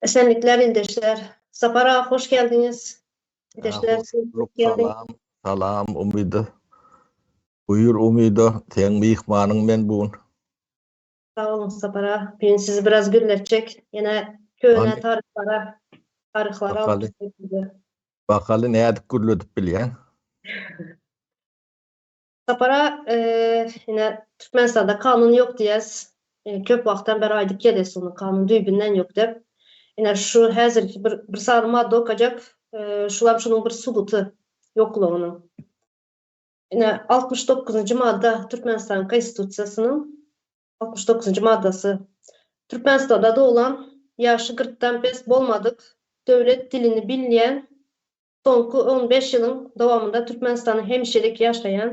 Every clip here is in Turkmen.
Esenlikler ildeşler. Sapar aga hoş geldiňiz. Ildeşler siz hoş geldiňiz. Salam, salam Umyda. Buýur Umyda, seň myhmanyň men bu gün. Sag boluň Sapar aga. Bu gün sizi biraz gülletjek. Ýene köne taryhlara, taryhlara alyp gidjek sizi. Bakaly nädip gürledip bilýäň? Sapar aga, ine, Türkmenistanda kanun ýok diýýäs. Köp wagtdan bäri aýdyp gelýäs ony, kanun düýbünden ýok diýip. Ine, şu häzirki bir, bir sany madda okajak, şulam şunuň bir subuty, ýoklugynyň. Ine, altmyş dokuzynjy madda Türkmenistanyň Konstitusiýasynyň altmyş dokuzynjy maddasy, Türkmenistanda doglan, ýaşy kyrkdan pes bolmadyk, döwlet dilini bilýän Soňky on bäş ýylyň dowamynda Türkmenistanda hemişelik ýaşaýan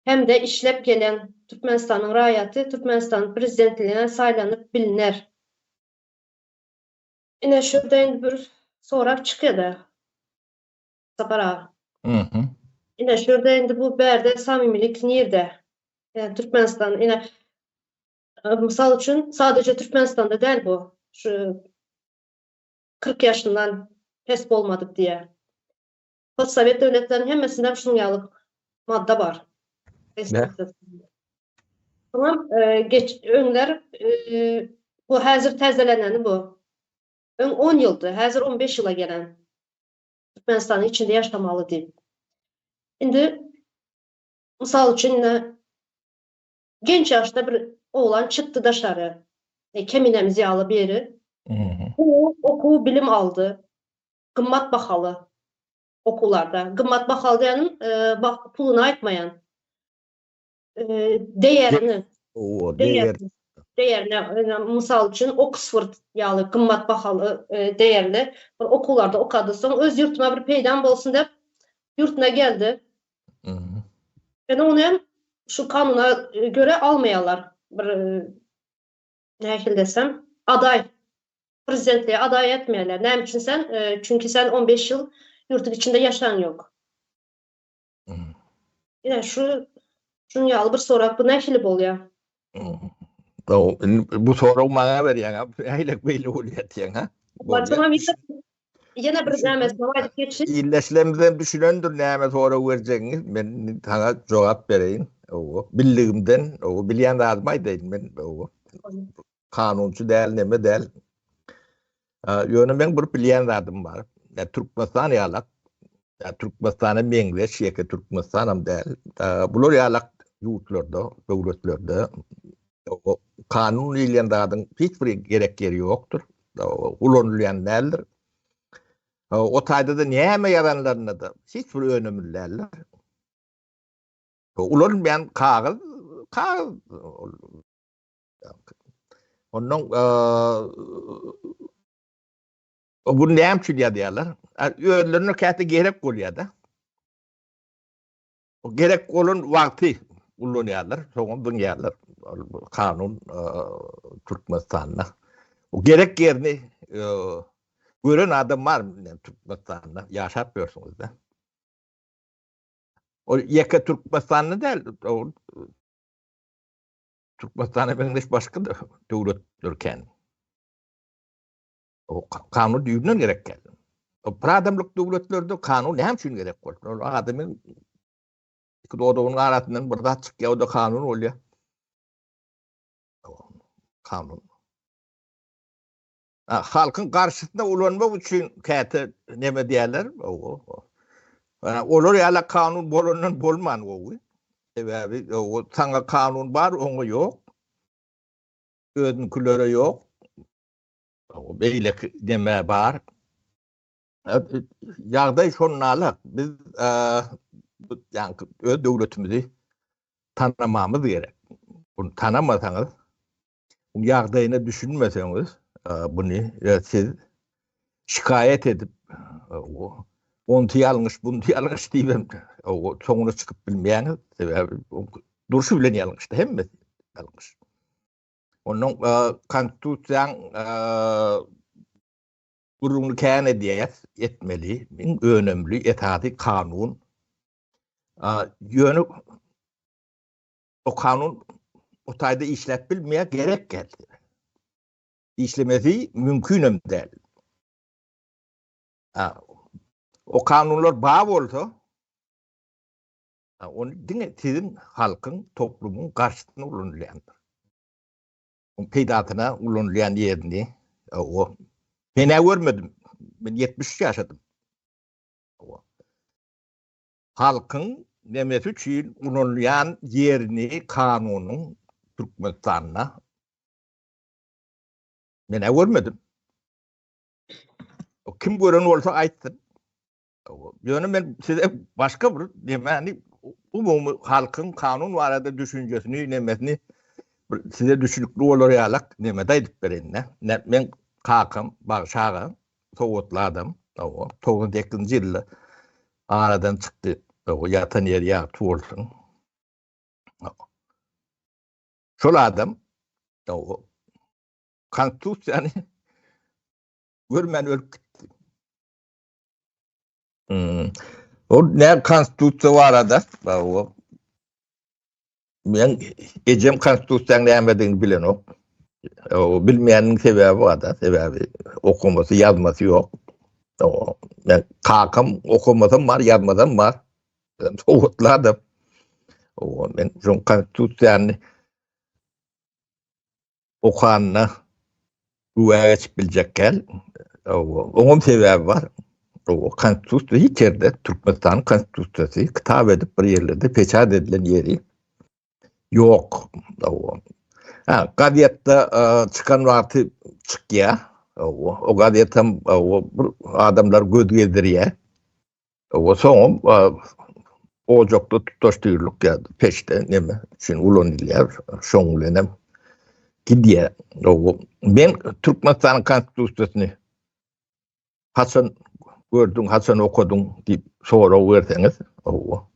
hem-de işläp gelýän Türkmenistanyň raýaty Türkmenistanyň Prezidentligine saýlanyp bilner. Ine şurda indi bir sorag çykýada Sapar aga. Mhym. Ine şurda indi bu bärde samimilik nirde? Ýani Türkmenistan ine mysal üçin sadaje Türkmenistanda däl bu şu Kyrk ýaşyndan pes bolmadyk diýýär. Postsowet döwletleriniň hemmesinde şunuň ýaly madda bar. Soňam geç öňler bu häzir täzeleneni bu. Öň on ýyldy, häzir on beş ýyla gelen. Türkmenistanyň içinde ýaşamaly diýip. Indi mysal üçin indi Genç ýaşda bir oglan çykdy daşary. E, Keminemiz ýaly biri. Okuw, okuw bilim aldy. Gymmat bahaly okuwlarda. Gymmat bahaly diýenim, e, bah- puluny aýtmaýan. E, Deýerini, O, deýer. deýerini, deýerini, e, mysal üçin, Oksford ýaly gymmat bahaly, e, deýerli bir okuwlarda okady. Soň öz ýurtuma bir peýdam bolsun diýip, ýurtuna geldi. Ýöne ony hem şu kanuna görä almaýarlar. Bir nähili desem, adaý, prezidentlige adaý etmeýärler. Näme üçin sen? Çünki sen on beş ýyl ýurduň içinde ýaşaň ýok. Ine şu şunuň ýaly bir sorag, bu nähili bolýar? Bu sorag maňa berýäň, äýlek beýle bolýar diýen, ha? Ýene bir näme sorag aýdyp geçsin. Ildeşlerimiz hem düşünendir näme sorag berjegiňi. Men saňa jogap bereýin. Owo, bildigimden, owo, bilýän zadymy aýdaýyn men, owo. Kanunçy däl, neme däl. Ýöne meň bir bilýän zadym bar. Ýa Türkmenistan ýalak, ýa Türkmenistana meňzeş ýeke Türkmenistanam däl. Bular ýalak ýurtlarda, döwletlerde kanun diýilýän zadyň hiç bir gerek ýeri ýokdur. Ulanylýan däldir. O taýda-da näme ýazanlarynda-da hiç bir önümli däldir. Ulanylýan kagyz, kagyz Ondan o gün näme üçin ýazýarlar? Özlerine käte gerek bolýar-da. O gerek bolan wagty ullanýarlar, soňra zyňýarlar. Kanun Türkmenistanda. O gerek ýerini gören adam bar Türkmenistanda ýaşap ýörsüňiz-de. O ýeke Türkmenistanda däl, Türkmenistana meňzeş başga da döwletler kän. O kanun düýbünden gerek geldi. O bir adamlyk döwletlerde kanun näme üçin gerek boldy? Ol adamyň iki dodagyň arasyndan bir zat çykýar, o da kanun bolýar. Kanun. Halkyň garşysyna ulanmak üçin käte neme diýerler? Olar ýaly kanun bolandan bolman gowy. Sebäbi saňa kanun bar, oňa ýok. Özüňkilere ýok. Beýleki neme bar? Ýagdaý şonalak. Biz öz döwletimizi tanamamyz gerek. Bunu tanamasaňyz, ýagdaýyna düşünmeseňiz, buny siz şikaýat edip, onty ýalňyş, bunty ýalňyş diýip hem soňuna çykyp bilmeýäňiz. Sebäbi durşy bilen ýalňyşdy, hemmesi ýalňyş. Onuň konstitusiýaň gürrüňini kän edýär, etmeli. Iň önemli esasy kanun. Ýöne o kanun o taýda işläp bilmeýär, gerek geldi. Işlemesi mümkin hem däl. O kanunlar bar bolsa, ony diňe siziň halkyň, toplumyň garşysyna ulanylýandyr. Oň peýdasyna ulanylýan ýerini o men görmedim. Men 73 ýaşadym. Halkyň nemesi üçin ulanylýan ýerini kanunyň Türkmenistanda men ä görmedim. Kim gören bolsa aýtsyn. Ýöne men size başga bir demäni umumy halkyň kanun barada düşünjesini nemesini size düşünükli bolar ýalak nemede aýdyp bereýin. Men kakam Bagşaga Sowatly adam. Owa, 98-nji ýylda aradan çykdy. Owa, ýatan ýeri ýagty bolsun. Şol adam owa, konstitusiýany görmän ölüp gitdi. Hmm. O ne konstitusiya barada? O. Men ejem konstitusiýanyň nämedigini bilenok. O bilmeýäniň sebäbi barda, sebäbi okumasy, ýazmasy ýok. O men kakam okumasam bar, ýazmasam bar. Sowatladım. O men şu konstitusiýany okanyna güwä geçip biljek däl. Oňam sebäbi bar. O konstitusiýa hiç ýerde Türkmenistanyň konstitusiýasy kitap edip bir ýerlerde peçat edilen ýeri ýok. Ha, gazetde çykan wagty çykýar. O gazetem o adamlar göz gezdirýär. O soňam ojakda tutaş dürlük ya peşte neme üçin ulanylýar. Şoň bilen hem gidýär. Men Türkmenistanyň konstitusiýasyny haçan gördüň, haçan okadyň diýip sorag berseňiz, owa.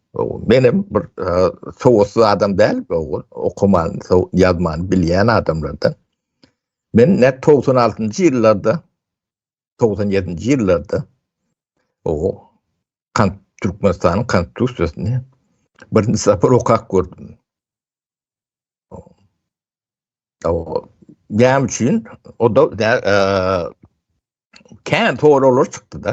Men hem bir sowatsyz adam däl, owa. Okaman, ýazman bilýän adamlardan. Men nät 96-njy ýyllarda togsan ýedinji ýyllarda o kan Türkmenistanyň konstitusiýasyny birinji sapar okap gördüm. O näme üçin? O da e, kän soraglar çykdy da.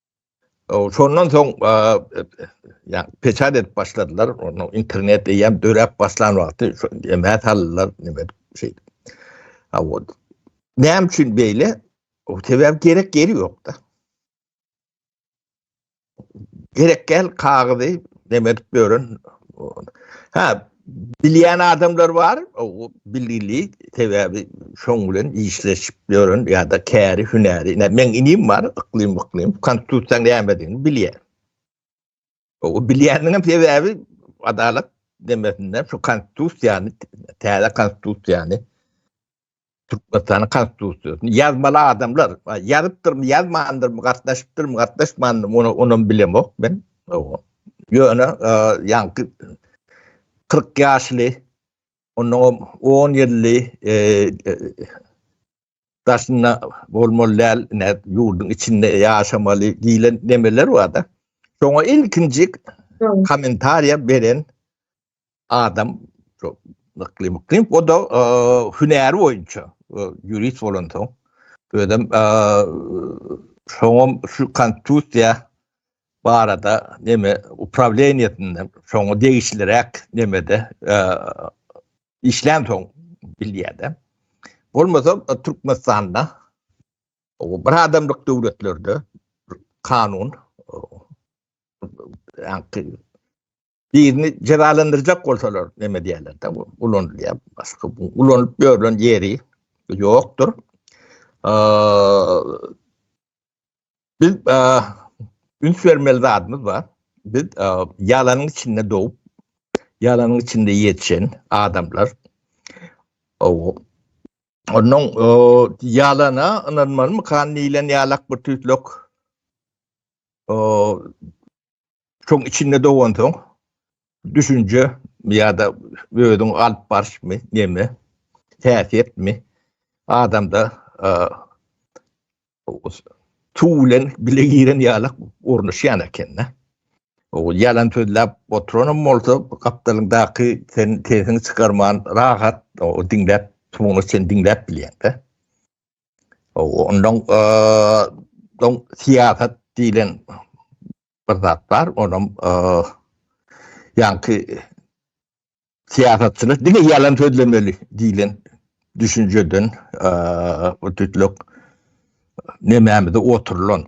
Şondan soň ýa peçat edip başladylar. Onda internet eýýäm döräp başlan wagty emä saldylar nime şey. Ha o. Näme üçin beýle? O sebäp gerek ýeri ýokda. Gerek gel kagyzy demek beren. Ha Bilýän adamlar bar, o bilgili, sebäbi şoň bilen işleşip ýören ýa-da käri hünäri. Ine, meň inim bar, yklym yklym, konstitusiýa nämedigini bilýär. O bilýäniniň hem sebäbi adalat demesinden şu konstitusiýany, täze konstitusiýany Türkmenistanyň konstitusiýasyny ýazmaly adamlar ýazypdyrmy, ýazmandyrmy, gatnaşypdyrmy, gatnaşmandyrmy, ony onam bilemok men. Ýöne ýaňky 40 ýaşly ondan 10 ýylly e, e, daşynda bolmaly däl, ne ýurduň içinde ýaşamaly diýlen nemeler bar-da. Şoňa ilkinji kommentariýa beren adam nykly mykly o da e, hünäri boýunça e, ýurist bolan soň özüm e, şoňam şu konstitusiýa barada neme upravleniýetinden şoňa degişliräk nemede işlän soň bilýärdi. Bolmasa Türkmenistanda o bir adamlyk döwletlerde kanun birini jezalandyrjak bolsalar neme diýerler de ulanylýar başga ulanyp ýörlen ýeri ýokdur biz üns bermeli zadymyz bar biz ýalanyň içinde dogip ýalanyň içinde ýetişen adamlar Ondan ýalana ynanmaly mykan diýlen ýalak bir tüýtlük Şoň içinde dogansoň düşünje ýa-da özüň alyp barşmy, näme? Häsiýetmi? Adamda suw bilen bile giren ýaly ornaşýan ekende. O ýalan sözläp oturanam bolsa, gapdalyndaky sen sesiňi çykarman rahat o diňläp, suwuňy sen diňläp bilýäňde. Ondan don siýasat diýlen bir zat bar. Onam ýaňky siýasatçylar diňe ýalan sözlemeli diýlen düşünjeden bu tütlük nemämize oturylan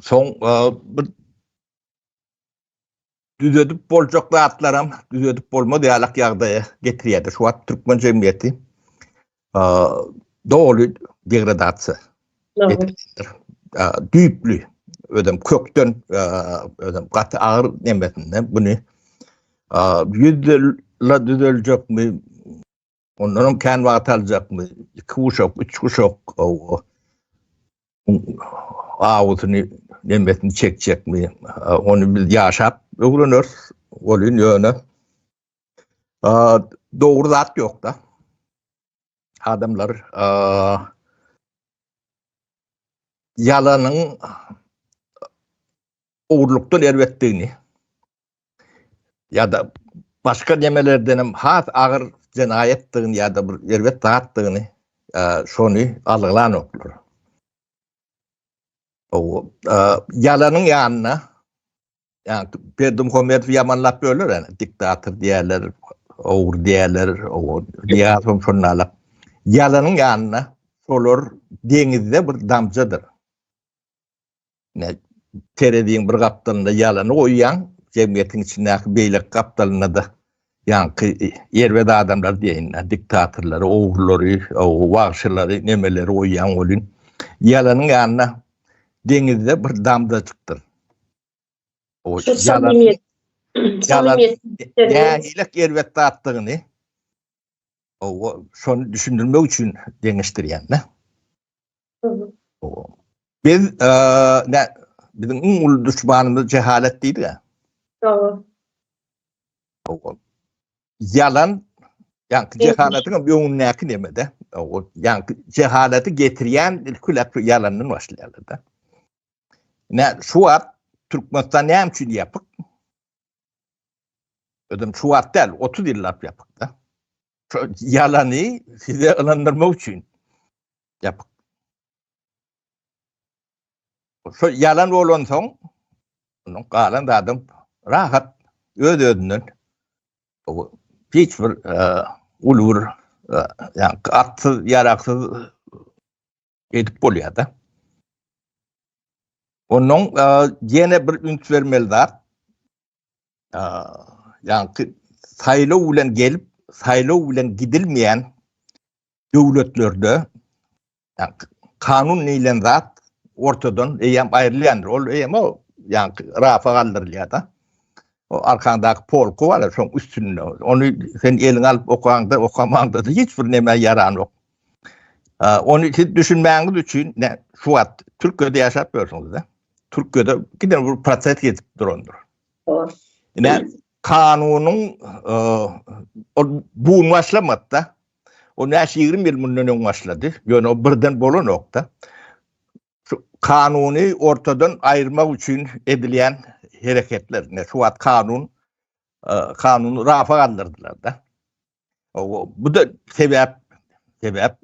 Soň bir düzedip boljak zatlaram düzedip bolmaz ýalak ýagdaýa getirýärdi. Şu wagt türkmen jemgyýeti doly degradasiýa etipdir. Düýpli özüm kökden özüm gaty agyr nemesinde bunu ýüzde düzeljekmi Ondan kän wagt aljakmy? Iki uşak, üç uşak o awusyny nemesini çekjekmi? Onu biz yaşap öwreners. Olun yöne doğru zat yok da. Adamlar yalanın uğurluktan erbettiğini ýa-da başga nemelerden hem has agyr jenaýatdygyny ýa-da bir erbet zatdygyny şony algylanoklar. Ýalanyň ýanyna ýa-da Berdimuhamedowy ýamanlap böler, ýa-da diktator diýerler, ogry diýerler, ýa-da şondalar. Ýalanyň ýanyna olar deňizde bir damjadyr. Ine, tereziň bir gapdalynda ýalany goýýaň, jemgyýetiň içindäki beýleki gapdalynda-da ýaňky erbet adamlary diýeýin, diktatorlary, ogrulary, wagşylary, nemeleri goýýaň welin, ýalanyň ýanyna deňizde bir damzajykdyr. Şu samimiýet, samimiýet. Nähilek erbet zatdygyny şony düşündirmek üçin deňeşdirýän-de. Biz ne biziň iň uly düşmanymyz jehalet diýdi-ä. Dogry. Ogul. Ýalan ýaňky jehaletiň öňündäki neme-de. Ogul. Ýaňky jehaleti getirýän ilki lep ýalandan başlaýarlar-da. Ne şu wagt Türkmenistan näme üçin ýapyk? Özüm şu wagt däl, 30 ýyllap ýapyk-da. Ýalany size ynandyrmak üçin. Ýapyk. Şol ýalan bolansoň, onuň galan zady rahat, öz-özünden hiç bir uly bir atsyz, ýaragsyz edip bolýar-da. Onuň ýene bir üns bermeli zat, ýagny saýlaw bilen gelip, saýlaw bilen gidilmeýän döwletlerde kanun neýlen zat ortadan eýem aýrylýandyr. Ol eýem o ýa rafa galdyrylýar-da. O arkaňdaky polku bar, şoň üstünde. Ony sen eliňe alyp okaňda, okamaňda hiç bir näme ýaran ýok. Ony siz düşünmäňiz üçin şu wagt Türkiýede ýaşap ýörsiňiz-de. Türkiýede gide bir proses geçip durandyr. Ine kanunyň bu başlamakda O näçe ýigrimi ýyl mundan öň başlady. Ýöne o birden bolanok-da. Şu kanuny ortadan aýyrmak üçin edilýän hereketler. Ne şu wagt kanun kanuny rafa galdyrdylar-da. Bu da sebäp sebäp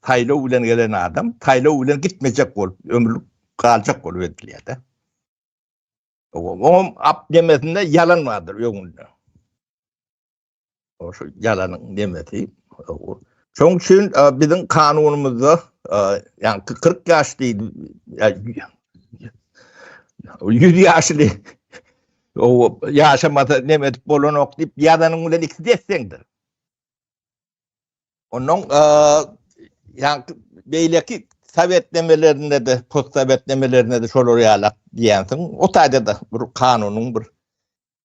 saýlaw bilen gelen adam saýlaw bilen gitmejek bolup ömürlik galjak bolup edilýär-de. Oňam ap demesinde ýalan bardyr öňünde. Şu ýalanyň nemesi. Şoň üçin biziň kanunymyzda ýa 40 ýaş diýdi. Ýa 100 ýaşly o ýaşamasa neme edip bolanok diýip ýazanyň bilen ikisi desseňdir. Onuň ýa beýleki sowetnemelerinde de, postsowetnemelerinde de şolar ýalak diýensiň. O taýda da bir kanunyň bir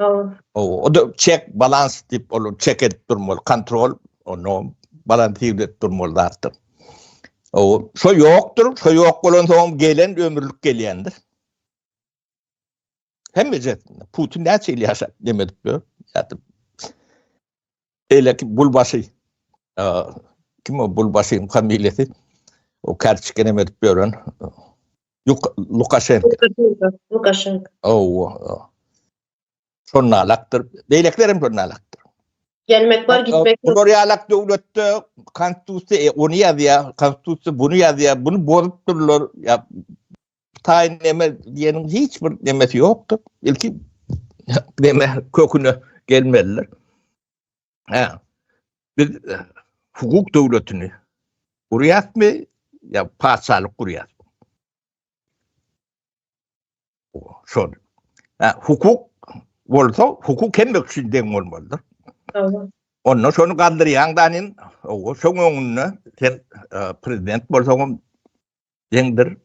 Oww. Oww, o-da çek balans diýip ol çek edip durmaly, kontrol, onu balansiw edip durmaly zatdyr. Oww, şo ýokdur, şo ýok bolan soň gelen ömürlik gelýändir. Hemme jet, Putin näçe ýyl ýaşap, neme edip ýör, ýatyp. Elek Bulbaşy. Kim o Bulbaşyň familiýasy? O kärçikene edip ýören Lukaşenko. Lukaşenko. Owo. Şonalakdyr. Beýlekiler hem şonalakdyr. Gelmek bar, gitmek bar. Bular ýalak döwletde konstitusiýa e, ony ýazýar, konstitusiýa buny ýazýar, buny bozup durlar. Taýyn näme diýeniň hiç bir nemesi ýokdur. Ilki näme köküne gelmeliler. Ha. Biz e, hukuk döwletini gurýarmy ýa paçalyk gurýarmy? Şol. Ha, hukuk bolsa hukuk hem üçin deň bolmalydyr. Tamam. Onda şonu galdyrýaň da nen, o şoň öňünde sen e, prezident bolsaň deňdir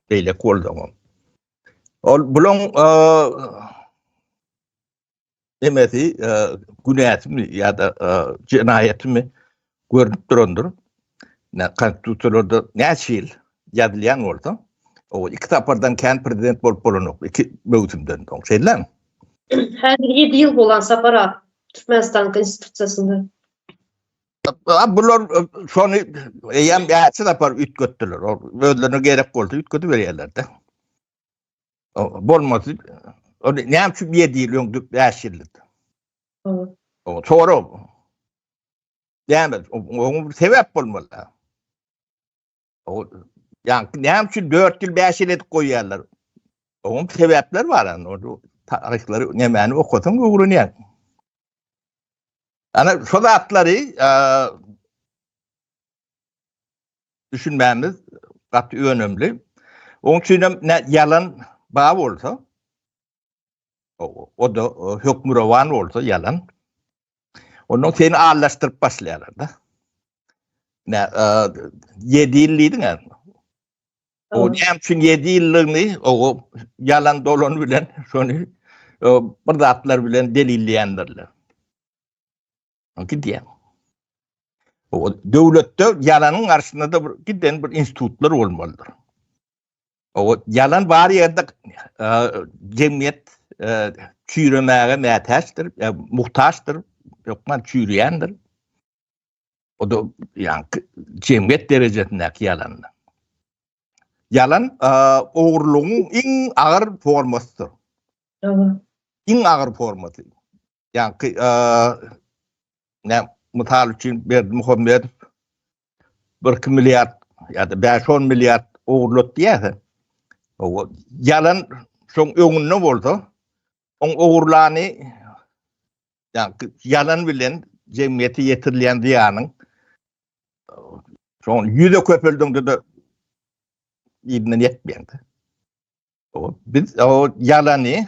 beýleki bolsaňam ol bulaň emesi günäsimi ýa-da jenaýatymy görnüp durandyr konstitusiýalarda näçe ýyl ýazylýan bolsa o iki sapardan kän prezident bolup bolanok iki möwsümden soň şeýdämi häzir ýedi ýyl bolan sapar Türkmenistan konstitusiýasynda Bular şony eýýäm ýaşy tapar üýtgetdiler. Özlerine gerek bolsa üýtgedip berýärler-de. Bolmasy ony näme üçin bir ýerde ýyllyň düp ýaş ýyllydy. O sonra Yani oňa bir sebäp bolmaly. Yani näme üçin 4 ýyl 5 ýyl edip goýýarlar? Oňa sebäpler bar ýa onda taryhlary nämäni okasaň öwrenýär. Ana şu zatlary düşünmämiz gaty önemli. Oň üçin hem ýalan bar bolsa, O da hökmürowan bolsa yalan. Ondan seni ağırlaştırıp başlayalar da. Ne, e, yedi yıl dedin ya. O ne için yedi yıllığını o yalan dolan bilen şunu e, bir zatlar bilen delilleyendirler. Gidýär. O döwletde ýalanyň garşysynda-da bir giden bir institutlar bolmalydyr. O ýalan bar ýerde e, jemgyýet e, çüýremäge mätäçdir, e, muhtaçdyr, ýokman çüýreýändir. O da ýaňky jemgyýet derejesindäki ýalandyr. Ýalan ogurlygyň iň agyr formasydyr. Iň agyr formasy. Ýaňky näm mysal üçin Berdi Muhammedow 1-2 milliard ýa-da 5-10 milliard ogurlat diýýärse, o ýalan şoň öňünde bolsa, oň ogurlany ýaňky ýalan bilen jemgyýete ýetirilýän zyýanyň şoň ýüze köpeldiňde-de ýerinden ýetmeýändi. O biz o ýalany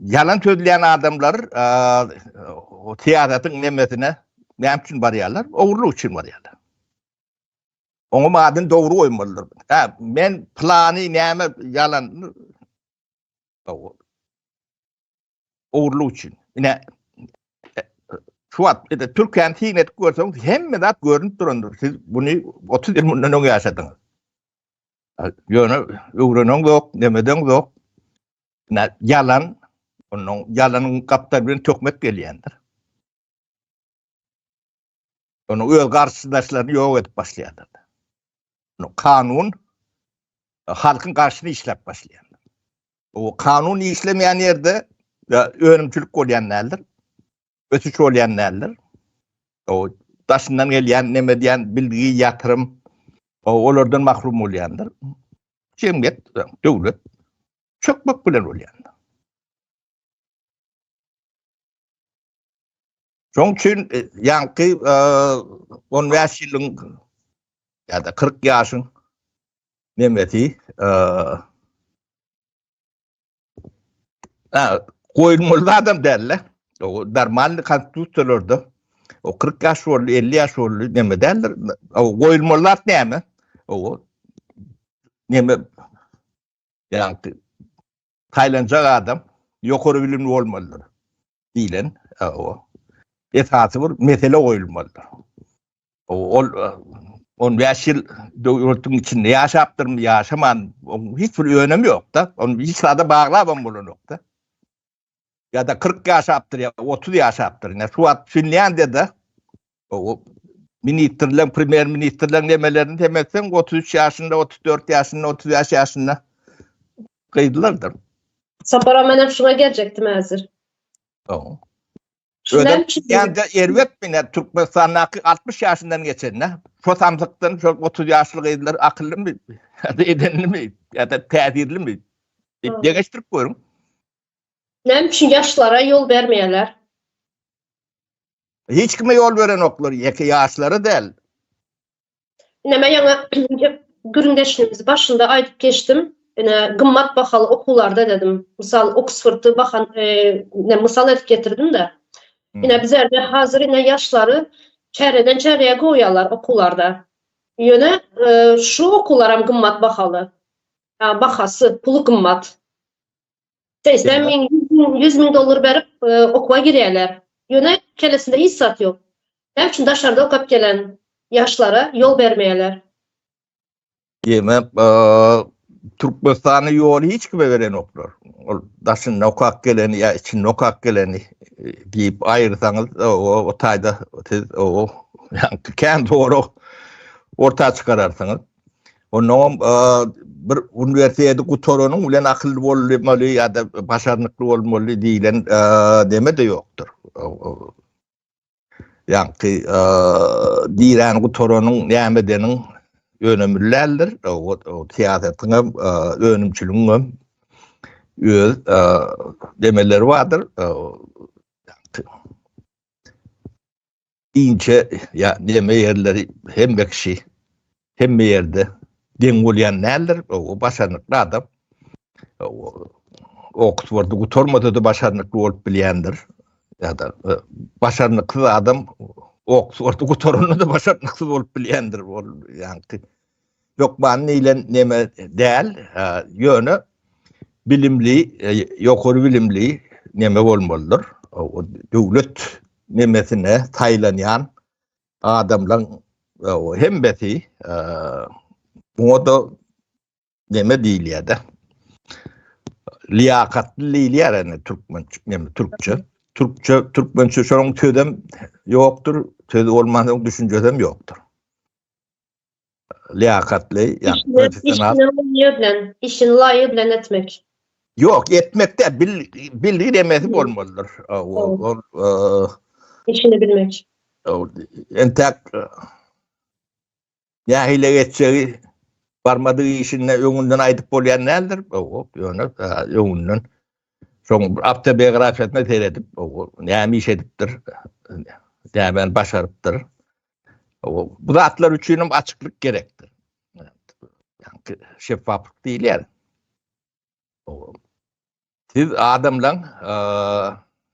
Yalan sözleyen adamlar o siyasetin nemesine ne için baryalar? Oğurluk için baryalar. Onun adını doğru koymalılar. Ha, men planı neme yalan oğurluk için. Yine şu wagt ede Türkiýäni syn edip görseň, hemme zat görünip durandyr. Siz bunu 30 ýyl mundan öň ýaşadyňyz. Ýöne öwrenen zok, nemeden zok. Ýa ýalan, onuň ýalanyň gapdal bilen töhmet gelýändir. Onuň öz garşydaşlaryny ýok edip başlaýandyr. Onuň kanun e, halkyň garşyna işläp başlaýandyr. O kanun işlemeýän ýerde önümçilik bolýan däldir. ösüş bolýan däldir. O daşyndan gelýän neme diýen bilgi, ýatyrym o olardan mahrum bolýandyr. Jemgyýet, döwlet çökmek bilen bolýar. Şoň üçin e, ýaňky 15 e, ýylyň ýa-da 40 ýaşyň nemesi e, Goýulmaly adam däl-le. O normalny konstitusiýalarda o 40 ýaş boldy, 50 ýaş boldy näme däldir. O goýulmaly zat näme? O näme? Ýa-da taýlanjak adam ýokary bilimli bolmalydyr. Diýlen, o esasy bir mesele goýulmalydyr. Ol 15 ýyl döwletiň içinde ýaşapdyrmy, ýaşaman, hiç bir önemi ýok-da. Ony hiç zada baglap hem bolanok-da. Ya da 40 yaşaptır ya 30 yaşaptır. Ne şu wagt Finlandiyada o ministrler, premýer ministrler nemelerini temetsen 33 yaşında, 34 yaşında, 35 yaşında gyzlardyr. Sapara menem şuna geljekdim hazır. Tamam. Özüm ýanda erbet bilen Türkmenistandaky 60 ýaşyndan geçende, şo samsykdan şo 30 ýaşly gyzlar akyllymy, edenlimi, ýa-da täsirlimi? Diýip deňeşdirip görüň. Näme üçin ýaşlara ýol bermeýärler? Hiç kime ýol berenoklar, ýeke ýaşlara däl. Ine men ýaňy gürrüňdeşligimizi başynda aýdyp geçdim. Ine gymmat bahaly okuwlarda dedim. Mysal Oksfordy bahan e, ne mysal edip getirdim-de. Hmm. Ine bizlerde hazir ine ýaşlary çäreden çäreye goýýarlar okuwlarda. Ýöne e, şu okuwlar hem gymmat bahaly. Bahasy, puly gymmat. Seýsem meň ýüz müň dollar berip e, okuwa girýärler. Ýöne kellesinde hiç zat ýok. Näme üçin daşarda okap gelen ýaşlara ýol bermeýärler? Demek, e, Türkmenistanyň ýoly hiç kime berenoklar. Ol daşynda okap geleni ýa içinde okap geleni e, diýip aýyrsaňyz, e, o o taýda siz o ýa kän dogry orta çykararsyňyz. Ondan bir uniwersiteti gutaranyň bilen akylly bolmaly ýa-da başarnykly bolmaly diýlen deme-de ýokdur. Ýagty, diýen gutaranyň näme edeniň önemli däldir. O syýasatyň hem, önümçiligiň hem öz demeleri bardyr. Inçe ýa neme ýerleri hemme kişi hemme ýerde deň bolýan däldir. O başarnykly adam. Oksfordy gutarmasa-da başarnykly bolup bilýändir. Ýa-da e, başarnyksyz adam Oksfordy gutaranda-da başarnyksyz bolup bilýändir. Ol ýaňky hökman diýlen neme däl, ýöne bilimli, ýokary bilimli neme bolmalydyr. Döwlet nemesine saýlanýan adamlaryň hemmesi muňa-da neme diýilýär-de, liýakatly diýilýär indi türkmen, neme, türkçe. Türkçe, türkmençe şonuň sözem ýokdur, söz bolmansoň düşünjesem ýokdur. Liýakatly, ýagny professional. Işini laýyk bilen etmek. Ýok, etmek däl, bil, bilgidemesi bolmalydyr. Ol, işini bilmek. Entäk nähile geçjegi barmadyk işinde öňünden aýdyp bolýan däldir. Ýöne öňünden şoň awtobiografiýasyna seredip, näme iş edipdir, nämäni başarypdyr. Bu zatlar üçin hem açyklyk gerekdir. Yani şeffaflyk diýilýär. Siz adamlaň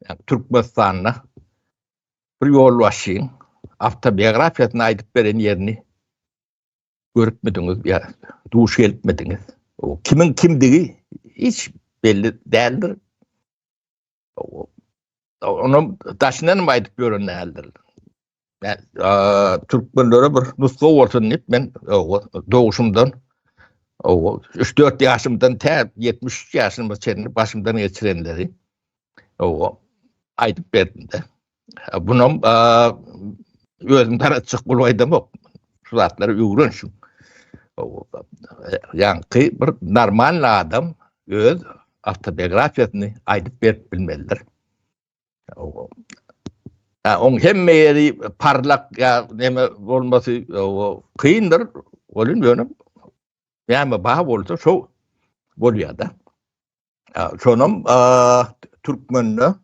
yani Türkmenistanda bir ýolbaşçyň awtobiografiýasyny aýdyp beren ýerini görüpmidiňiz ýa duş gelipmidiňiz? O kimiň kimdigi hiç belli däldir. Onu daşyna nima aýdyp ýören däldir. Men türkmenlere bir nusga bolsun diýip men doguşumdan owa 3-4 ýaşymdan tä 73 ýaşyma çenli başymdan geçirenleri owa aýdyp berdim-de. Bunam özüm taratjak bolup aýdamok. Şu zatlary öwren şu. Ýaňky bir normal adam öz awtobiografiýasyny aýdyp berip bilmelidir. Oň hemme ýeri parlak ýa näme bolmasy kyndyr. Olim ýöne näme bar bolsa şo bolýar-da. Şonam türkmende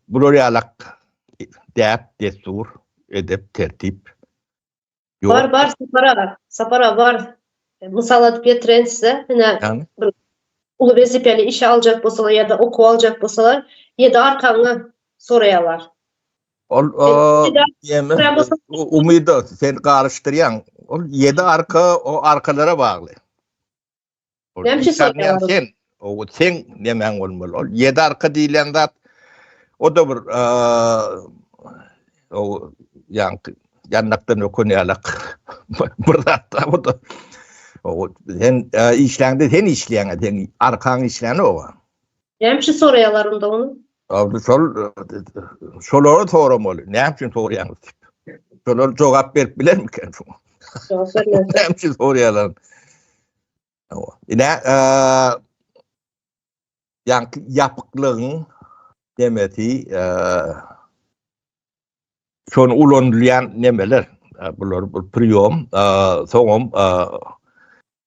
bular ýalak däp, desur, edep, tertip. Bar, bar, sapara, sapara, bar. Mysal adyp getiren size, hine, bir uly wezipeli işe aljak bolsalar, ya da oku aljak bolsalar, ya da arkaňa sorayalar. Ol, o, umyda, sen karıştıryan, ol yedi arka, o arkalara bağlı. Näme üçin soýýarlar? Sen, o sen nemäň bolmaly? Ol ýedi arka diýlen zat o da bir o ýan ýanlykdan ökün ýalak bir zat da o da o sen işläňde sen işläňe sen arkaň işläne o Näme üçin soraýarlar onda ony? Abi şol şolary soramaly. Näme üçin soraýaňyz diýip. Şolar jogap berip bilermiken şoňa? Jogap bermez. Näme üçin soraýarlar? Hawa. Ine, ýa-da ýapyklygyň demeti şonu ulanylýan nemeler. Bular bir priýom, soňam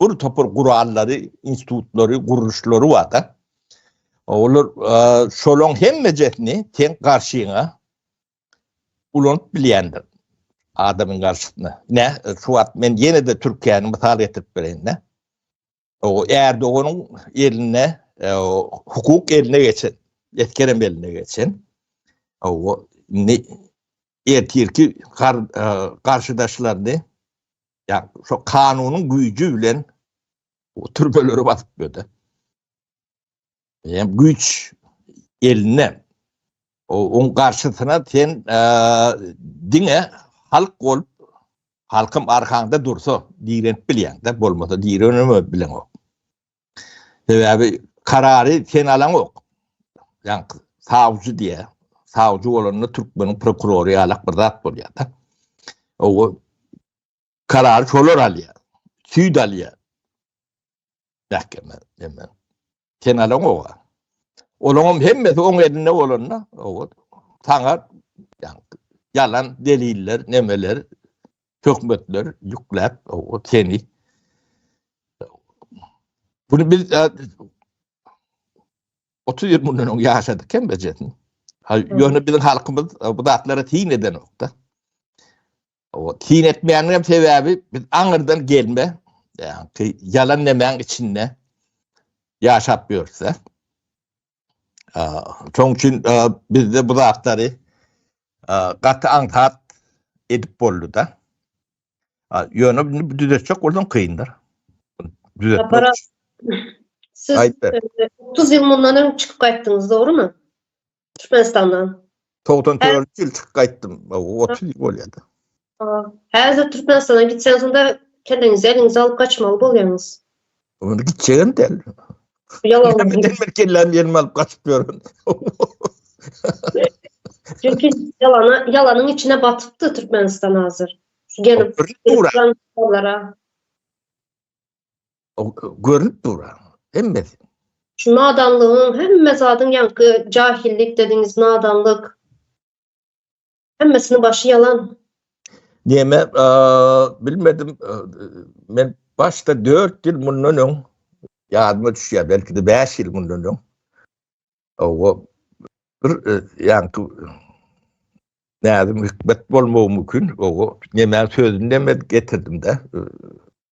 bir topar gurallary, institutlary, gurluşlary bar-da. Olar şolaryň hemmejesini sen garşyňa ulanyp bilýändir adamyň garşysyna. Ne, şu wagt men ýene-de Türkiýäni mysal getirip bereýin-de. O Erdoganyň eline, e, hukuk eline geçen, etkerem eline geçen. O ne ertirki e, garşydaşlaryny Ya şu kanunyň güýji bilen o türbeleri basyp gördü. Hem güýç eline o on karşısına sen e, dine halk ol halkym arkanda dursa direnip bilýän de bolmasa direnip bilen o. Sebäbi karary sen alaňok. Ýa savcı diýä. Savcı bolanda türkmeniň prokurory ýalak bir zat bolýar-da. O karary şolar alýar. Süýt alýar. Mähkeme, näme. Sen alaňok. Olaňam hemmesi oň elinde bolanda, o saňa ýalan deliller, nemeler hökümetler ýükläp o seni bunu biz 30 ýyl mundan öň ýaşadyk hem bejetin. Ha ýöne biziň halkymyz bu zatlara tin edenokda. O tin etmeýäniň hem sebäbi biz aňyrdan gelme, ýaňky ýalan nemäň içinde ýaşap ýörse. Şoň üçin bizde bu zatlary gaty aňsat edip boldy-da. Ýöne bu düzetjek bolsaň kyndyr. Düzetmek. Siz 30 ýyl mundan öň çykyp gaýtdyňyz, dogrumy? Türkmenistandan. Togdan törli ýyl çyk gaýtdym. Otuz ýyl bolýady. Häzir Türkmenistana gitseň şunda kelleňizi eliňize alyp gaçmaly bolýaňyz. Onda gitjegem däl. Ýalan. Men kellämi ýerime alyp gaçyp ýörün. Çünki ýalana, ýalanyň içine batypdy Türkmenistan hazır. Gelip, gelip, görünip dur hemmesi. Şu nadanlygyň hemme zadyň ýaňky jahillik dediňiz nadanlyk. Hemmesini başy ýalan. Näme bilmedim men başda 4 ýyl mundan öň ýadyma düşýär belki de 5 ýyl mundan öň. Owa bir ýaňky näzim hikmet bolmagy mümkin. Owa näme sözünde men getirdim de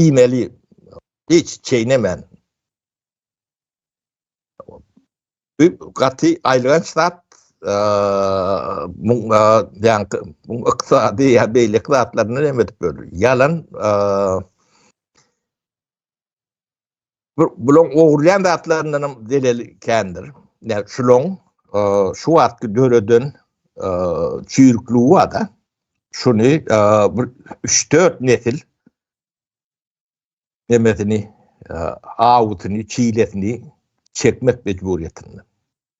iýmeli hiç çeýnemän gaty aýylganç zat muň ýaňky muň ykdysady ýa beýleki zatlaryny näme edip böler ýalan Bulaň ogurlaýan zatlaryndan hem zeleli kändir. Yani şulaň e, şu wagtky döreden e, çüýrükligi bar-da. Şuny e, bir 3-4 nesil demesini, awutyny, çilesini çekmek mejburiýetinde.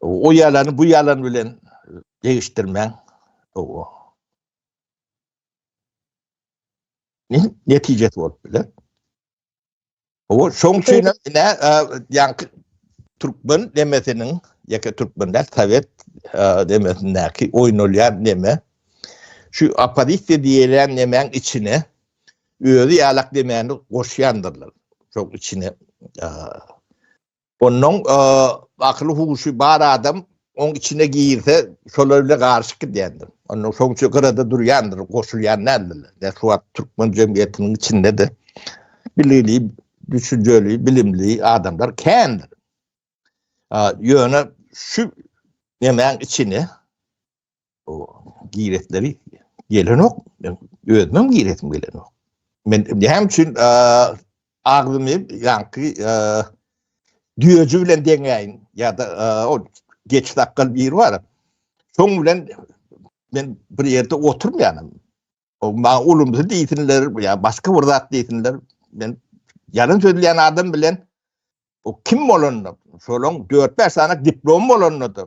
O ýalany bu ýalan bilen degişdirmäň. Owa. Ne netijesi bolup biler? Owa, şoň üçin ine ýaňky türkmen demesiniň ýeke türkmenler sowet demesindäki oýnalýan neme şu oppozisiýa diýilýän nemäň içine özi ýalak demäni goşýandyrlar. Şoň içine Ondan akyly huşy bar adam oň içine girse şolar bile garşyk gidýändir. Ondan soň üçe gyrada durýandyr, goşulýan nädildi. Ne şu wagt türkmen jemgyýetiniň içinde de bilili, düşünjeli, bilimli adamlar kändir. Ýöne şu nemäň içine o giretleri gelenok. Men özüm giretim gelenok. Men näme üçin agzymy ýaňky düýeji bilen deňäýin ýa-da o geç sakgal biri bar. Şoň bilen men bir ýerde oturmaýanym. O ma ulumsy diýsinler ýa başga bir zat diýsinler. Men ýalyn sözleýän adam bilen o kim bolanda, şolaň 4-5 sany diplom bolanda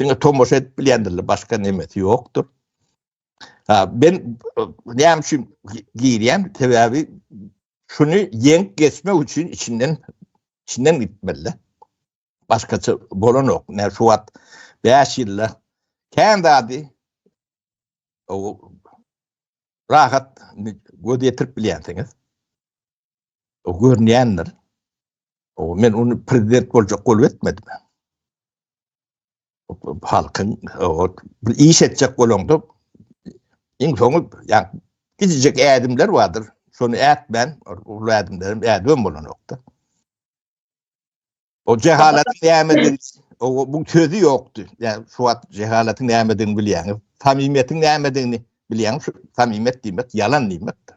Diňe tomaşa edip bilýändirler, başga nemesi ýokdur. Ha, ben näme üçin girýän? Sebäbi şuny ýeňip geçmek üçin içinden içinden gitmeli. Başgaça bolanok. Näme şu wagt 5 ýylda kän zady o rahat göz ýetirip bilýänsiňiz. O görünýändir. O men ony prezident boljak bolup etmedim. Halkyň o bir iş etjek bolanda iň soňy ýa gidijek ädimler bardyr. Şony ätmän, ol ädimlerim ädimem bolanokdy. O cehalatyň nämedigini o bu sözü ýokdy. Ýa şu wagt cehalatyň nämedigini bilýäňiz. Samimiýetiň nämedigini bilýäňiz. Şu samimiýet diýmek ýalan diýmekdir.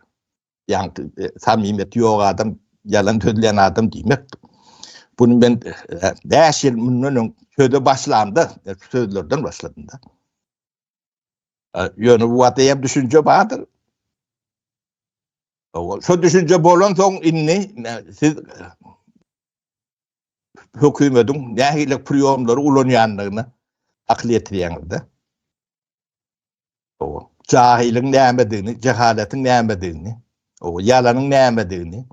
Ýa e, samimiýeti ýok adam, ýalan sözleýän adam diýmekdir. Bunu men 5 e, ýyl mundan öň söze başlamda, e, sözlerden başladymda. Ýöne bu wagtda hem düşünje bardyr. Şu düşünje bolan soň indi siz hökümetiň nähili priýomlary ulanýandygyny akyl ýetirýäňizde. O, jahilyň nämedigini, jehalatyň nämedigini, o, ýalanyň nämedigini,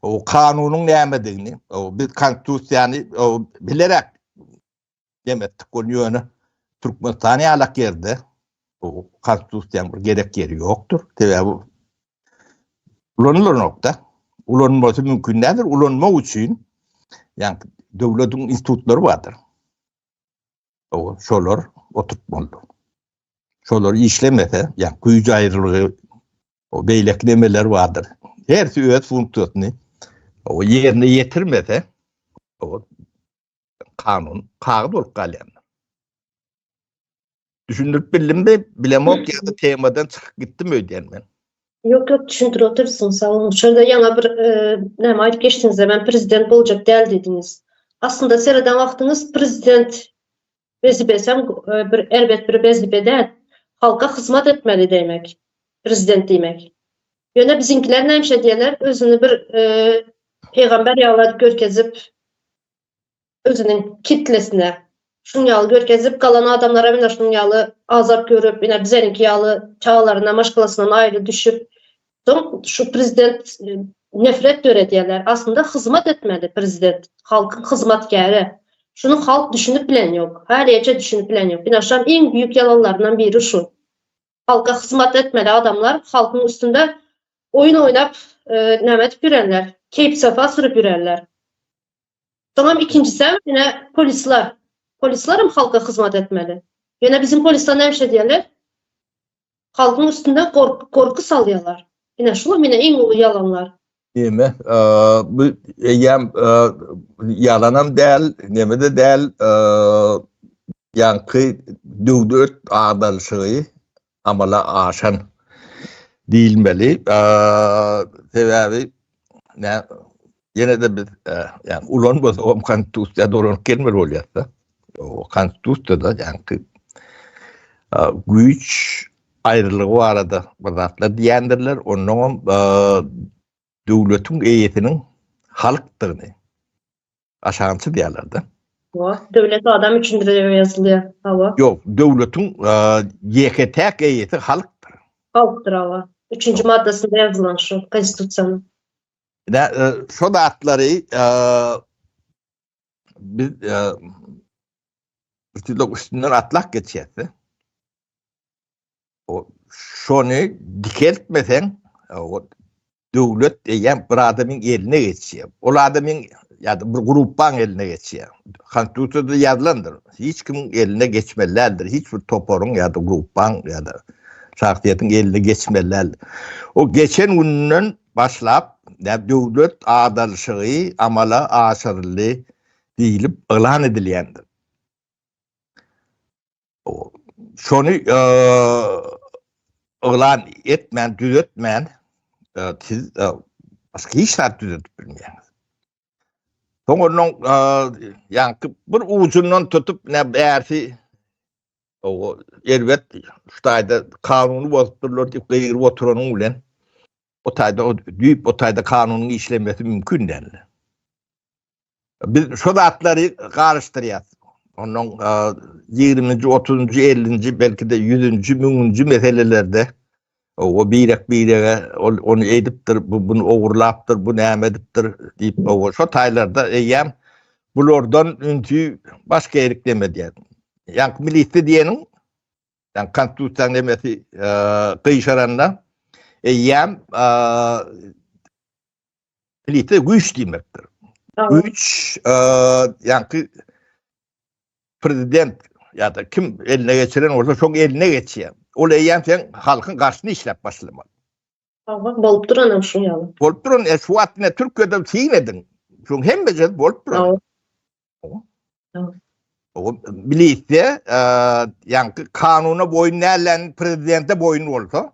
o, kanunyň nämedigini, o, biz konstitusiýany, o, bilerek Dem etdik ony ýöne Türkmenistan ýalak ýerde bu konstitusiýanyň bir gerek ýeri ýokdur. Sebäbi ulanylanokda. Ulanmasy mümkin däldir. Ulanmak üçin ýa-da döwletiň institutlary bardyr. O şolar oturtmalydyr. Şolar işlemese, ýa güýç aýrylygy, o beýleki nemeler bardyr. Hersi öz funksiýasyny o ýerine ýetirmese, o kanun kagyz bolup galýar. Düşündirip bildim mi? Bilemok ya da temadan çykyp gitdim öýdýän men. Yok yok düşündür otursun sağ olun. Şöyle yana bir e, näme aýdyp geçdiňiz ben prezident boljak däl diýdiňiz. Aslynda sereden wagtyňyz prezident wezipesi hem e, bir erbet bir wezipe däl. Halka hyzmat etmeli demek. Prezident diýmek. Ýöne biziňkiler nämişe diýerler, özüni bir e, peýgamber ýagladyp görkezip özüniň kitlesine şunuň ýaly görkezip, galan adamlar hem ine şunuň ýaly azap görüp, ine bizeniňki ýaly çagalaryna maşgalasyndan aýry düşüp, soň şu prezident nefret döredýärler. Aslynda hyzmat etmeli prezident, halkyň hyzmatkäri. Şuny halk düşünip bilen ýok. Haliýeçe düşünip bilen ýok. Ine şam iň büýük ýalanlaryndan biri şu. Halka hyzmat etmeli adamlar halkyň üstünde oýun oýnap näme edip ýörenler. Keýp sofa sürüp ýörenler. Soňam ikinjisem ýene polisler. Polislerim halka hyzmat etmeli. Ýene biziň polisler näme şey diýerler? Halkyň üstünde gorky salýarlar. Ine şu mine iň uly ýalanlar. Neme, bu eýýäm ýalanam däl, neme-de däl, ýaňky döwlet agdaryşygy amala aşan diýilmeli. Sebäbi ýene-de biz ulan bolsagam Konstitusiýa dolanyp gelmeli bolýas-da. Konstitusiýada ýaňky güýç aýrylygy barada bir zatlar diýendirler, onnoňam döwletiň eýesiniň halkdygyny aşansyz diýerler-de. Hawa, döwlet adam üçindir diýip ýazylýar. Hawa. Ýok, döwletiň ýeke-täk eýesi halkdyr. Halkdyr, hawa. Üçünji maddasynda ýazylan şu Konstitusiýanyň. Ine, şo zatlary biz üstünden atlap geçýäs-de. şony dikeltmeseň, döwlet eýýäm bir adamyň eline geçýär. Ol adamyň ýa-da bir gruppaň eline geçýär. Konstitusiýada ýazylandyr. Hiç kimiň eline geçmeli däldir. Hiç bir toparyň ýa-da gruppaň ýa-da şahsyýetiň eline geçmeli däldir. O geçen günden başlap, döwlet adalşygy amala aşyryldy diýlip yglan edilýändir. şony yglan etmän, düzetmän siz başga hiç zat düzedip bilmeýäňiz. Soň onuň ýaňky bir ujundan tutup ne bärsi o erbet şu taýda kanuny bozup durlar diýip gygyryp oturanyň bilen o taýda düýp o taýda kanunyň işlemesi mümkin däldi. Biz şu zatlary garyşdyrýas. Ondan 20-nji, 30-njy, 50-nji, belki-de 100-nji, 1000-nji meselelerde o birek-birege ol ony edipdir, bu bunu ogurlapdyr, bu näme edipdir diýip, o şo taýlarda eýýäm bulardan ünsi başga erik demedýär. Ýa milisi diýeniň, ýa konstitusiýanyň emesi gyşaranda eýýäm Plite güýç diýmekdir. Güýç, ýa-da prezident ýa-da kim eline geçiren bolsa, şoň eline geçýär. Ol eýýäm sen halkyň garşyna işläp başlamaly. Hawa, bolup duranam şu ýaly. Bolup duran, e, şu wagt ine Türkiýede syn ediň. Şoň hemme ýerde bolup duran. Hawa. O bilýär, ýa-da kanuna boýun nälen prezidente boýun bolsa,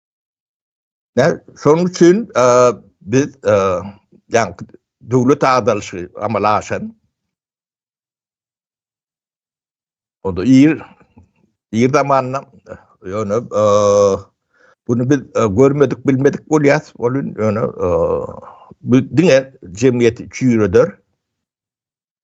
Yani, şonuň üçin biz yani döwlet agdalyşy amala aşan onda ir ir zamanynda ýöne bunu biz görmedik bilmedik bolýas bolun ýöne bu diňe jemgyýeti çüýreder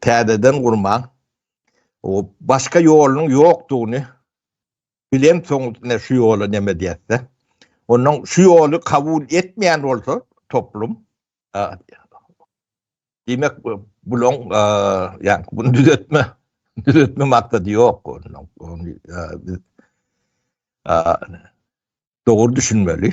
täzeden gurmaň. O başga ýolunyň ýokdugyny bilen soň ne şu ýola neme diýäse. Onuň şu ýoly kabul etmeýän bolsa toplum Diýmek, bulaň, ýa bunu düzetme, düzetme maksady ýok onuň. Ony biz dogry düşünmeli.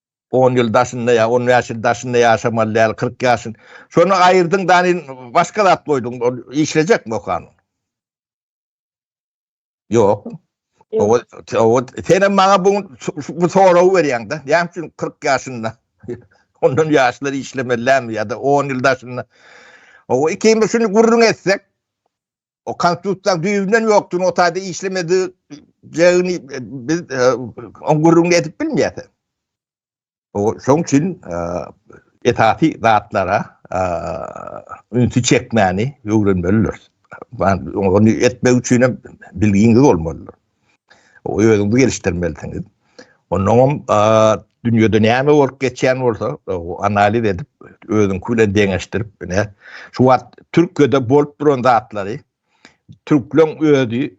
On ýyl daşynda ýa on bäş ýyl daşynda ýaşamaly däl, kyrk ýaşyn. Şony aýyrdyň da nin başga zat goýduň, ol işlejekmi o kanun? Ýok. Ýok. Owa, senem maňa bu bu soragy berýäň da. Näme üçin kyrk ýaşynda? Ondan ýaşlar işlemeli dälmi ýa-da on ýyl daşynda? Owa, ikimiz şuny gürrüň etsek, o konstitusiýanyň düýbünden ýokdugyny, o taýda işlemejegini biz e, on gürrüňini edip bilmeýäris. Şoň üçin e, esasy zatlara e, ünsi çekmäni öwrenmelidir. Ony etmek üçin hem bilgiňiz bolmalydyr. özüňizi gelişdirmelisiňiz. Ondan hem dünýede näme bolup geçýän bolsa, analiz edip, özüňki bilen deňeşdirip, ine, şu wagt Türkiýede bolup duran zatlary türkleň özi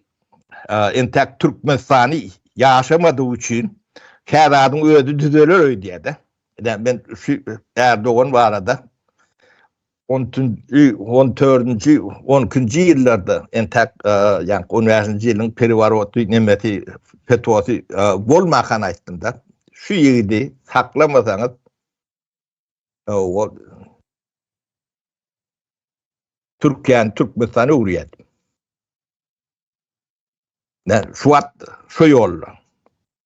entek Türkmenistany ýaşamadygy üçin häzadyň özi düzeler öýdýär-de. Ine, men şu Erdogan barada 13-nji, on dördünji, on ikinji ýyllarda entäk, ýa on bäşinji ýylyň periworoty nemesi, fetwasy bolmakan aýtdym-da. Şu ýigidi saklamasaňyz, ol Türkiýäni Türkmenistana öwürýär. Şu wagt şu ýolda.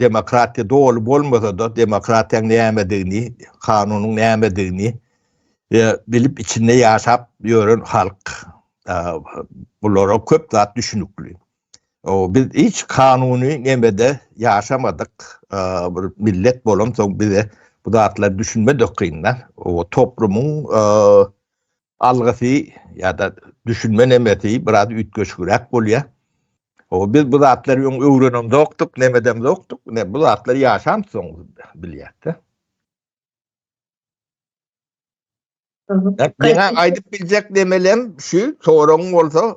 Demokratiýa doly bolmasa-da, demokratiýaň nämedigini, kanunyň nämedigini bilip, içinde ýaşap ýören halk bulara köp zat düşünikli. Biz hiç kanuny nemede ýaşamadyk bir millet bolamsoň, bize bu zatlar düşünmedikgyndan, toplumyň algysy ýa-da düşünme nemesi biraz üýtgeşigräk bolýar. Oba biz bu zatlary öň öwrenemzokdyk, nemedemzokdyk, ine bu zatlar ýaşan soň bilýäs-de. Meň aýdyp biljek nemelem şu, soragyň bolsa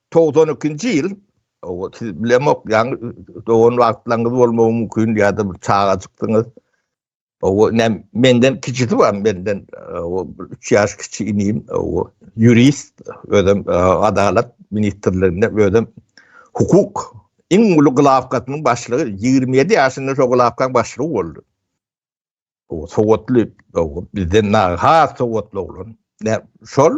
Togsan ikinji ýyl, siz bilemok, ýaňy dogan wagtlaryňyz bolmagy mümkin ýa-da bir çagajykdyňyz. Owa, menden kiçisi bar, menden o üç ýaş kiçi inim, o ýurist, özem e, adalat ministrliginde, özem hukuk iň uly gylawkasynyň başlygy, 27 ýaşynda şo gylawkaň başlygy boldy. O sowatly, o bizden naha sowatly oglan. Ne şol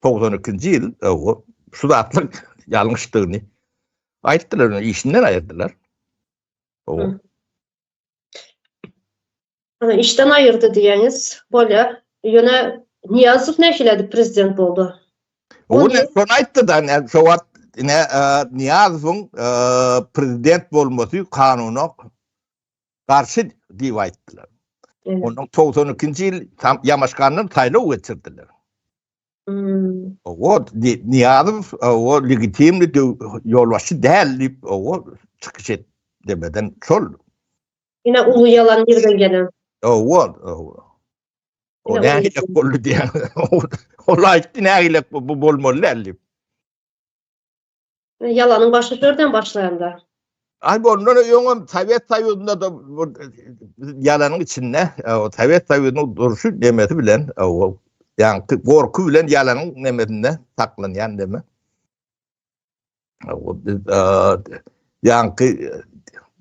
togsan ikinji ýyl o şu zatlar ýalňyşdygyny aýtdylar ony işinden aýyrdylar o Ana işden aýyrdy diýeniz bolýar. Ýöne Niýazow nähili edip prezident boldy? O ne şony aýtdy da, ne şu wagt ne e, Niýazowyň e, prezident bolmasy kanuna garşy diýip aýtdylar. Ondan togsan ikinji ýyl Ýamaşgandan saýlaw geçirdiler. Owod Niýazow o legitimli ýolbaşçy däl diýip o çykyş et demeden şol. Ine uly ýalan ýerden gelen. Owod. O nähili boldy diýen. Ol aýtdy nähili bu bolmaly däl diýip. Ýalanyň başy şörden başlaýanda. Ay ondan öňem Sowet Soýuzynda da ýalanyň içinde Sowet Soýuzynyň durşy demesi bilen o ýa gorky bilen ýalanyň demesinde saklanýan deme. O biz ýanky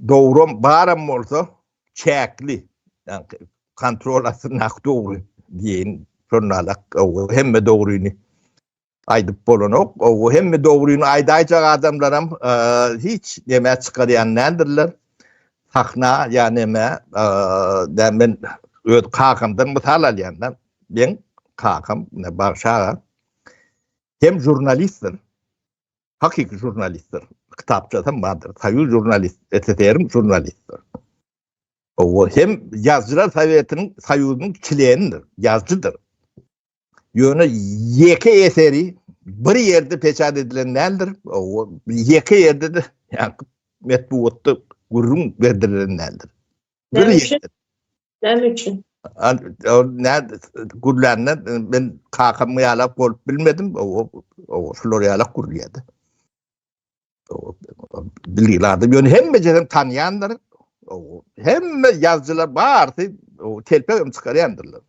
dogrum baram bolsa çäkli ýanky kontrol astynda dogry diýen şonalak hemme dogryny Aýdyp bolanok. O hemme dogryny aýdaýjak adamlaram hiç näme çykarýan nädirler. Sahna ýa näme, da men öz kakamdan mysal alýan da. Men kakam Bagşaga hem jurnalistdir. Hakyky jurnalistdir. Kitapçasam bardyr. Soýuz jurnalist, SSR-iň jurnalistdir. O hem ýazgylar sowetiniň, soýuzyň çlenidir, ýazgydyr. Ýöne ýeke eseri bir ýerde peçat edilen däldir. Ýeke ýerde de ýa-da metbugatda gürrüň berdirilen däldir. Näme üçin? Näme üçin? Näme gürlände men kakam ýalap bolup bilmedim. O şular ýalap gürlýärdi. Bilýärdi. Ýöne hemme ýerden tanýandyr. Hemme ýazgylar bardy. O telpegem çykarýandyrlar.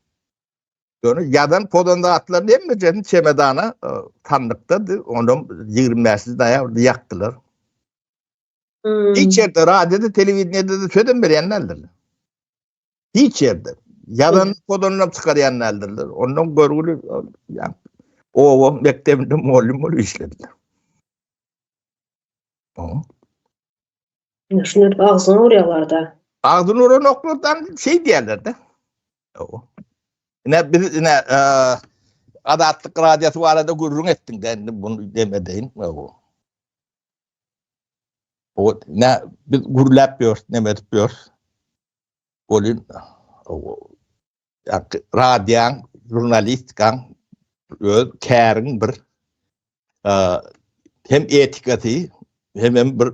Ýöne ýazan pozan zatlaryny hemmejesini çemedana e, sandykdady. Onam 25 noýabrda ýakdylar. Hmm. Hiç ýerde radioda, telewideniýede de söz berýän däldirler. Hiç ýerde. Ýazan pozanlap çykarýan däldirler. Ondan görgüli ýa owa mekdebinde mugallym bolup işlediler. Şuny agzyna urýarlar-da. Agzyna uranoklardan şeý diýerler-de. Owo. Ine biz ine Azatlyk radiýasy barada gürrüň etdiň-de, indi bunu demedeýin. Owo. Owo, ne biz gürläp ýörüs, neme edip ýörüs? Bolýar. Owo. radiýaň, žurnalistikaň öz käriň bir hem etikasy, hem hem bir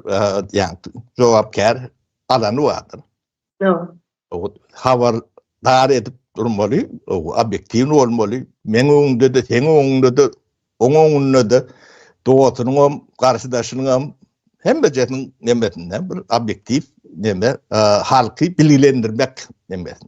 ýagny jogapkär alany bardyr. Ýok. Habar dar edip durmaly, obýektiwny bolmaly. Meň öňümde-de, seň öňüňde-de, oň öňünde-de, dogasynyň hem, garşydaşynyň hem, hemmejesiniň nemesinde bir obýektiw neme, halky bilgilendirmek nemesi.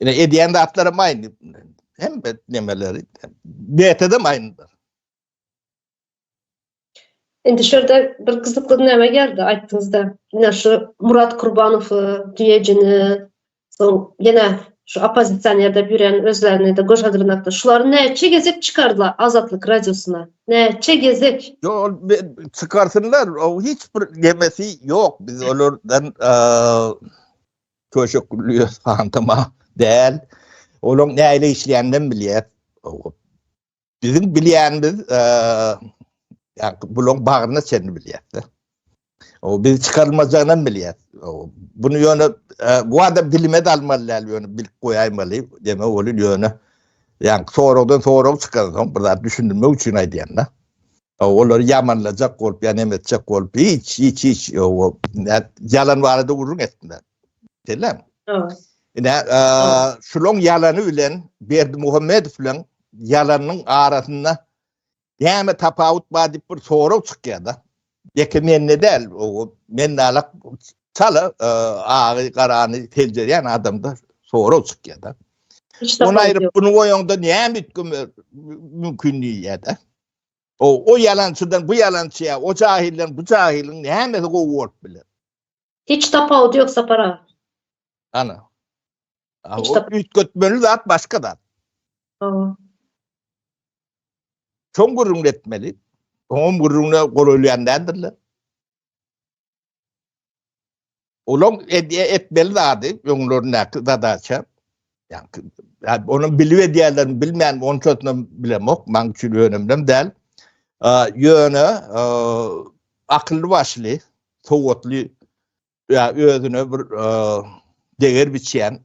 Ine edýän zatlarym aýny. Hem bet nemeleri. Betede aýnydyr. Indi şerde bir gyzykly näme geldi aýtdyňyzda. Ine şu Murat Kurbanow diýejini, soň ýene şu oppozisionerde ýören özlerini de göz hazırynakda. Şulary näçe gezek çykardylar Azatlyk radiosyna? Näçe gezek? Yo, çykarsynlar. O hiç bir gemesi ýok. Biz olardan Köşekli fantoma däl. Olaň näle işleýänini bilýär. Biziň bilýänimiz ýa bulaň bagryna çenli bilýär. O biz çykarmajagyny bilýär. Bunu ýöne bu adam bilime dalmaly däl ýöne bilip goýaýmaly. Demek ol ýöne ýa soragdan sorag çykardyň bir zat düşündirmek üçin aýdýan da. Olary ýamanlajak bolup ýa neme etjek bolup hiç hiç hiç ýalan barada gürrüň etme. Selam. Ine şulaň ýalany bilen Berdimuhamedow bilen ýalanyň arasynda näme tapawut bar diýip bir sorag çykýar-da. Ýeke mende däl, o men alak çala e, agy garany seljerýän adamda sorag çykýar-da. Onu aýryp bunu goýanda näme etgim mümkin diýýär-de. O o ýalançydan bu ýalançyya, o jahilden bu jahiliň nämesi gowy bolup biler? Hiç tapawudy ýok Sapar aga. Ana. Hiç tap. Üýtgetmeli zat başga zat. Hawa. Çoň gürrüňletmeli. Oňam gürrüňine golaýlaýan däldirler. Olaň etmeli zady öňlerindäki zadaça. Yani, yani onu bilip edýärlerini bilmän onçasyny bilemok. Maň üçin önemlem däl. Ýöne akylly başly, sowatly ýa özüne bir deger biçýän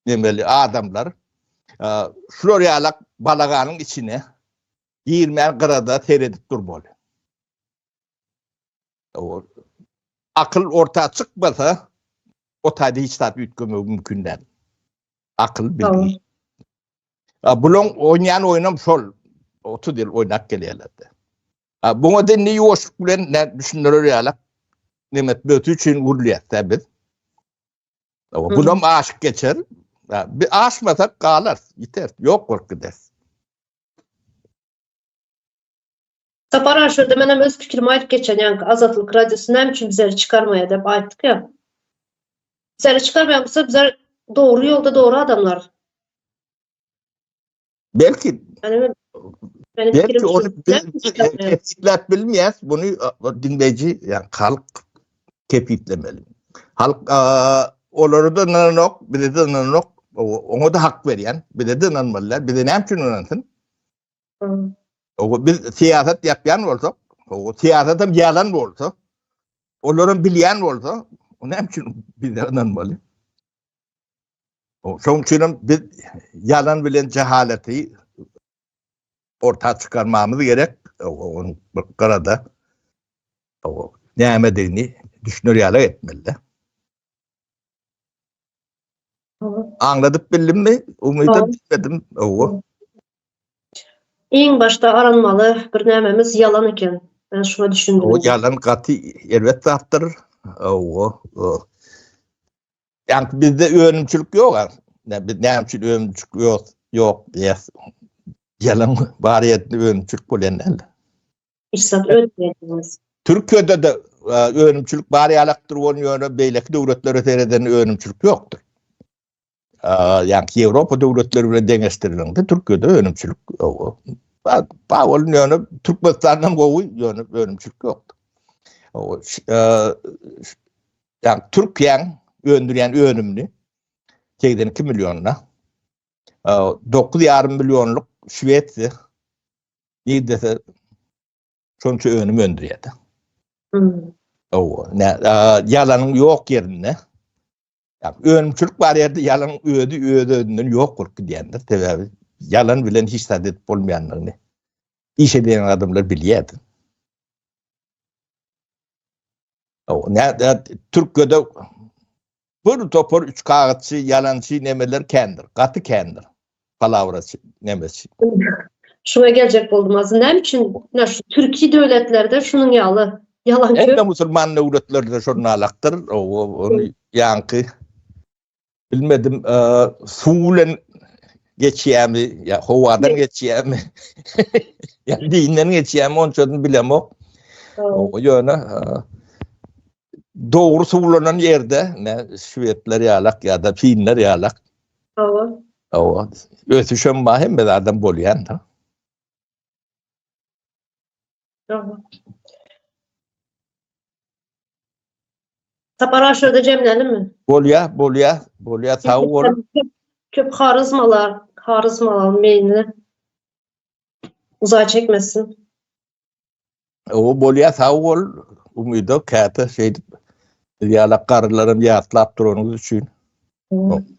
nemeli adamlar şular ýalak balaganyň içine girmän gyrada seredip dur bol. Akyl orta çykmasa, o taýda hiç zat üýtgemegi mümkin däl. Akyl bilgi. Bulaň oýnaýan oýnam şol. 30 ýyl oýnap gelýärler-de. Buňa da indi ýuwaşlyk bilen düşündirer ýaly nemes böti üçin gurulýar-da biz. Bulam aşyp geçer. Bir aşmasak galar, ýiter, ýok bolup gider. Sapar aga şurda menem öz pikirimi aýdyp geçen ýaňky azatlyk radiosy näme üçin bizeri çykarmaýar dep aýtdyk ýa. Bizeri çykarmaýan bolsa bizler dogry ýolda dogry adamlar. Belki Belki ony kesgitläp bilmeýäs, buny diňleýji, ýa halk kepitlemeli. Halk olary da nanok, bize de nanok, oňa da hak berýän, bize de nanmalylar, bize näme üçin nansyn? Ogo biz siýasat ýapýan bolsak, ogo siýasat hem ýalan bolsa, olar hem bilýän bolsa, o näme üçin bizde ynanmaly? Şoň üçin hem biz ýalan bilen jahalaty orta çykarmamyz gerek. Ogo bir garada ogo nämedigini düşüner ýaly etmeli. Aňladyp bildimmi? Umyda bilmedim. Owo. Iň başda aranmaly bir nämemiz ýalan eken. Men şuňa düşündim. O ýalan gaty erbet zatdyr. Owo. Ýa-da bizde önümçilik ýok-a. Biz näme üçin önümçilik ýok? Ýok diýýäs. Ýalan bar ýerde önümçilik bolýan däl. Pursat ötmediňiz. Türkiýede-de önümçilik bar ýalakdyr bolan ýöne beýleki döwletlere seredende önümçilik ýokdur. Ýa-da Ýewropa döwletleri bilen deňeşdirende Türkiýede önümçilik ýok. Bar bolan ýöne Türkmenistandan gowy ýöne önümçilik ýokdur. Ýa-da Türkiýäň öndürýän önümini 82 millionyna 9,5 millionlyk Şwesiýa Nir dese şonça önüm öndürýärdi. Owa, ne, ýalanyň ýok ýerinde. Ýa önümçilik bar ýerde ýalan özi öz özünden ýok bolup gidýändir. Sebäbi ýalan bilen hiç zat edip bolmaýandygyny iş edýän adamlar bilýärdi. O näde Türkiýede bir topar üç kagyzçy, ýalançy nemeler kändir, gaty kändir. Palawraçy, nemeçi. Şuňa geljek boldum. Aslynda näme üçin şu türki döwletlerde şunuň ýaly ýalan köp? Hemme musulman döwletlerde şonun alakdyr. Ony ýaňky Bilmedim, suw bilen geçýämi, ýa howadan geçýämi? Ýa diýinden geçýämi, onçadan bilemok. Ýöne dogry suwlanan ýerde, ne şwedler ýalak ýa-da finler ýalak. Hawa. Hawa. Ösüşem bar, hemme adam bolýan-da. Sapar ağa şurada jemlenimi? Bolýa, bolýa, bolýa, sag bol. Köp harizmalar, harizmalar meýli. Uzağa çekmesin. O bolýa, sag bol. Umyda käte şeýdip biz ýala garrylarym ýatlap duranyňyz üçin.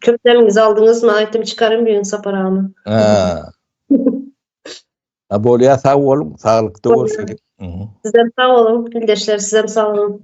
Köp demiňizi aldyňyzmy? Aýtym çykarym biýin Sapar agany. Ha. Ha bolýa sag boluň, saglykda görşelik. Sizem sag boluň, ildeşler sizem sag boluň.